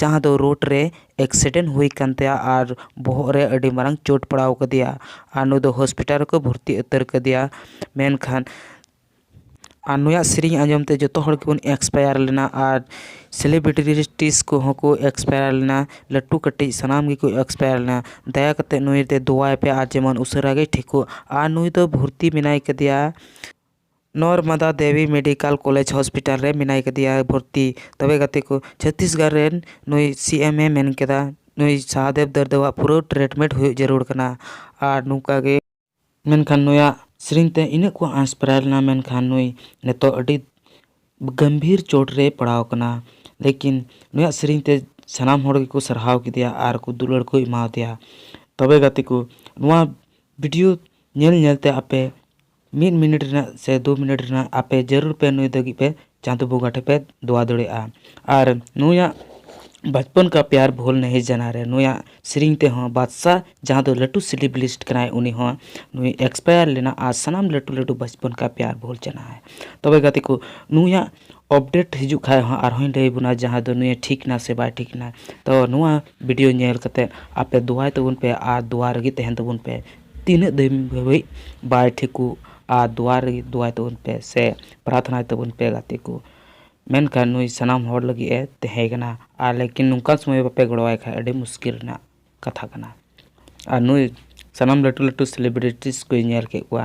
ᱡᱟᱦᱟᱸ ᱫᱚ ᱨᱳᱰ ᱨᱮ ᱮᱠᱥᱤᱰᱮᱱᱴ ᱦᱩᱭ ᱟᱠᱟᱱ ᱛᱟᱭᱟ ᱟᱨ ᱵᱚᱦᱚᱜ ᱨᱮ ᱟᱹᱰᱤ ᱢᱟᱨᱟᱝ ᱪᱳᱴ ᱯᱟᱲᱟᱣ ᱟᱠᱟᱫᱮᱭᱟ ᱟᱨ ᱱᱩᱭ ᱫᱚ ᱦᱚᱥᱯᱤᱴᱟᱞ ᱨᱮᱠᱚ ᱵᱷᱚᱨᱛᱤ ᱩᱛᱟᱹᱨ ᱟᱠᱟᱫᱮᱭᱟ ᱢᱮᱱᱠᱷᱟᱱ ᱟᱨ ᱱᱩᱭᱟᱜ ᱥᱮᱨᱮᱧ ᱟᱸᱡᱚᱢ ᱛᱮ ᱡᱚᱛᱚ ᱦᱚᱲ ᱜᱮᱵᱚᱱ ᱤᱱᱥᱯᱟᱭᱟᱨ ᱞᱮᱱᱟ ᱟᱨ ᱥᱮᱞᱤᱵᱨᱤᱴᱤᱥ ᱠᱚᱦᱚᱸ ᱠᱚ ᱤᱱᱥᱯᱟᱭᱟᱨ ᱞᱮᱱᱟ ᱞᱟᱹᱴᱩ ᱠᱟᱹᱴᱤᱡ ᱥᱟᱱᱟᱢ ᱜᱮᱠᱚ ᱤᱱᱥᱯᱟᱭᱟᱨ ᱞᱮᱱᱟ ᱫᱟᱭᱟ ᱠᱟᱛᱮᱫ ᱱᱩᱭ ᱫᱚ ᱫᱚᱦᱚᱭᱮᱯᱮ ᱟᱨ ᱡᱮᱢᱚᱱ ᱩᱥᱟᱹᱨᱟ ᱜᱮᱭ ᱴᱷᱤᱠᱚᱜ ᱟᱨ ᱱᱩᱭ ᱫᱚ ᱵᱷᱚᱨᱛᱤ ᱢᱮᱱᱟᱭ ᱠᱟᱫᱮᱭᱟ Narmada Devi medical college hospital ᱨᱮ ᱢᱮᱱᱟᱭ ᱠᱟᱫᱮᱭᱟ ᱵᱷᱚᱨᱛᱤ ᱛᱚᱵᱮ ᱜᱟᱛᱮ ᱠᱚ ᱪᱷᱚᱛᱤᱥᱜᱚᱲ ᱨᱮᱱ ᱱᱩᱭ ᱥᱤ ᱮᱢ ᱮ ᱢᱮᱱ ᱠᱮᱫᱟ ᱱᱩᱭ ᱥᱟᱦᱟᱫᱮᱵᱽ ᱫᱚᱨᱫᱮ ᱟᱜ ᱯᱩᱨᱟᱹ ᱴᱨᱤᱴᱢᱮᱱᱴ ᱦᱩᱭᱩᱜ ᱡᱟᱹᱨᱩᱲ ᱠᱟᱱᱟ ᱟᱨ ᱱᱚᱝᱠᱟ ᱜᱮ ᱢᱮᱱᱠᱷᱟᱱ ᱱᱩᱭᱟᱜ ᱥᱮᱨᱮᱧ ᱛᱮ ᱤᱱᱟᱹᱜ ᱠᱚ ᱟᱸᱥᱯᱨᱟᱭ ᱞᱮᱱᱟ ᱢᱮᱱᱠᱷᱟᱱ ᱱᱩᱭ ᱱᱤᱛᱚᱜ ᱟᱹᱰᱤ ᱜᱟᱹᱢᱵᱷᱤᱨ ᱪᱳᱴ ᱨᱮᱭ ᱯᱟᱲᱟᱣ ᱠᱟᱱᱟ ᱞᱮᱠᱤᱱ ᱱᱩᱭᱟᱜ ᱥᱮᱨᱮᱧ ᱛᱮ ᱥᱟᱱᱟᱢ ᱦᱚᱲ ᱜᱮᱠᱚ ᱥᱟᱨᱦᱟᱣ ᱠᱮᱫᱮᱭᱟ ᱟᱨ ᱠᱚ ᱫᱩᱞᱟᱹᱲ ᱠᱚ ᱮᱢᱟᱣᱟᱫᱮᱭᱟ ᱛᱚᱵᱮ ᱜᱟᱛᱮ ᱠᱚ ᱱᱚᱣᱟ ᱵᱷᱤᱰᱤᱭᱳ ᱧᱮᱞ ᱧᱮᱞ ᱛᱮ ᱟᱯᱮ ᱢᱤᱫ ᱢᱤᱱᱤᱴ ᱨᱮᱱᱟᱜ ᱥᱮ ᱫᱩ ᱢᱤᱱᱤᱴ ᱨᱮᱱᱟᱜ ᱟᱯᱮ ᱡᱟᱹᱨᱩᱲ ᱯᱮ ᱱᱩᱭ ᱞᱟᱹᱜᱤᱫ ᱯᱮ ᱪᱟᱸᱫᱚ ᱵᱚᱸᱜᱟ ᱴᱷᱮᱱ ᱯᱮ ᱫᱚᱣᱟ ᱫᱟᱲᱮᱭᱟᱜᱼᱟ ᱟᱨ ᱱᱩᱭᱟᱜ ᱵᱟᱪᱯᱚᱱ ᱠᱟ ᱯᱭᱟᱨ ᱵᱷᱩᱞ ᱱᱟᱦᱤ ᱡᱟᱱᱟ ᱨᱮ ᱱᱩᱭᱟᱜ ᱥᱮᱨᱮᱧ ᱛᱮᱦᱚᱸ ᱵᱟᱫᱥᱟ ᱡᱟᱦᱟᱸ ᱫᱚ ᱞᱟᱹᱴᱩ ᱥᱤᱞᱤᱵᱤᱞᱤᱥᱴ ᱠᱟᱱᱟᱭ ᱩᱱᱤ ᱦᱚᱸ ᱱᱩᱭ ᱮᱠᱥᱯᱟᱭᱟᱨ ᱞᱮᱱᱟ ᱟᱨ ᱥᱟᱱᱟᱢ ᱞᱟᱹᱴᱩ ᱞᱟᱹᱴᱩ ᱵᱟᱪᱯᱚᱱ ᱠᱟ ᱯᱭᱟᱨ ᱵᱷᱩᱞ ᱡᱟᱱᱟ ᱦᱮ ᱛᱚᱵᱮ ᱜᱟᱛᱮ ᱠᱚ ᱱᱩᱭᱟᱜ ᱚᱯᱰᱮᱴ ᱦᱤᱡᱩᱜ ᱠᱷᱟᱱ ᱦᱚᱸ ᱟᱨ ᱦᱚᱸᱧ ᱞᱟᱹᱭ ᱵᱚᱱᱟ ᱡᱟᱦᱟᱸ ᱫᱚ ᱱᱩᱭᱮ ᱴᱷᱤᱠ ᱮᱱᱟ ᱥᱮ ᱵᱟᱭ ᱴᱷᱤᱠ ᱮᱱᱟ ᱛᱚ ᱱᱚᱣᱟ ᱵᱷᱤᱰᱤᱭᱳ ᱧᱮᱞ ᱠᱟᱛᱮᱫ ᱟᱯᱮ ᱫᱚᱣᱟᱭ ᱛᱟᱵᱚᱱ ᱯᱮ ᱟᱨ ᱫᱚᱣᱟ ᱨᱮᱜᱮ ᱛᱟᱦᱮᱱ ᱛᱟᱵᱚᱱ ᱯᱮ ᱛᱤᱱᱟᱹᱜ ᱫᱷᱟᱹᱵᱤᱡ ᱵᱟᱭ ᱴᱷᱤᱠᱚᱜ ᱟᱨ ᱫᱩᱣᱟᱨ ᱨᱮ ᱫᱩᱣᱟᱭ ᱛᱟᱵᱚᱱ ᱯᱮ ᱥᱮ ᱯᱨᱟᱨᱛᱷᱱᱟᱭ ᱛᱟᱵᱚᱱ ᱯᱮ ᱜᱟᱛᱮ ᱠᱚ ᱢᱮᱱᱠᱷᱟᱱ ᱱᱩᱭ ᱥᱟᱱᱟᱢ ᱦᱚᱲ ᱞᱟᱹᱜᱤᱫ ᱮ ᱛᱟᱦᱮᱸ ᱠᱟᱱᱟ ᱟᱨ ᱞᱮᱠᱤᱱ ᱱᱚᱝᱠᱟ ᱥᱚᱢᱚᱭ ᱵᱟᱯᱮ ᱜᱚᱲᱚ ᱟᱭ ᱠᱷᱟᱱ ᱟᱹᱰᱤ ᱢᱩᱥᱠᱤᱞ ᱨᱮᱱᱟᱜ ᱠᱟᱛᱷᱟ ᱠᱟᱱᱟ ᱟᱨ ᱱᱩᱭ ᱥᱟᱱᱟᱢ ᱞᱟᱹᱴᱩ ᱞᱟᱹᱴᱩ ᱥᱮᱞᱤᱵᱨᱤᱴᱤᱡᱽ ᱠᱚᱭ ᱧᱮᱞ ᱠᱮᱫ ᱠᱚᱣᱟ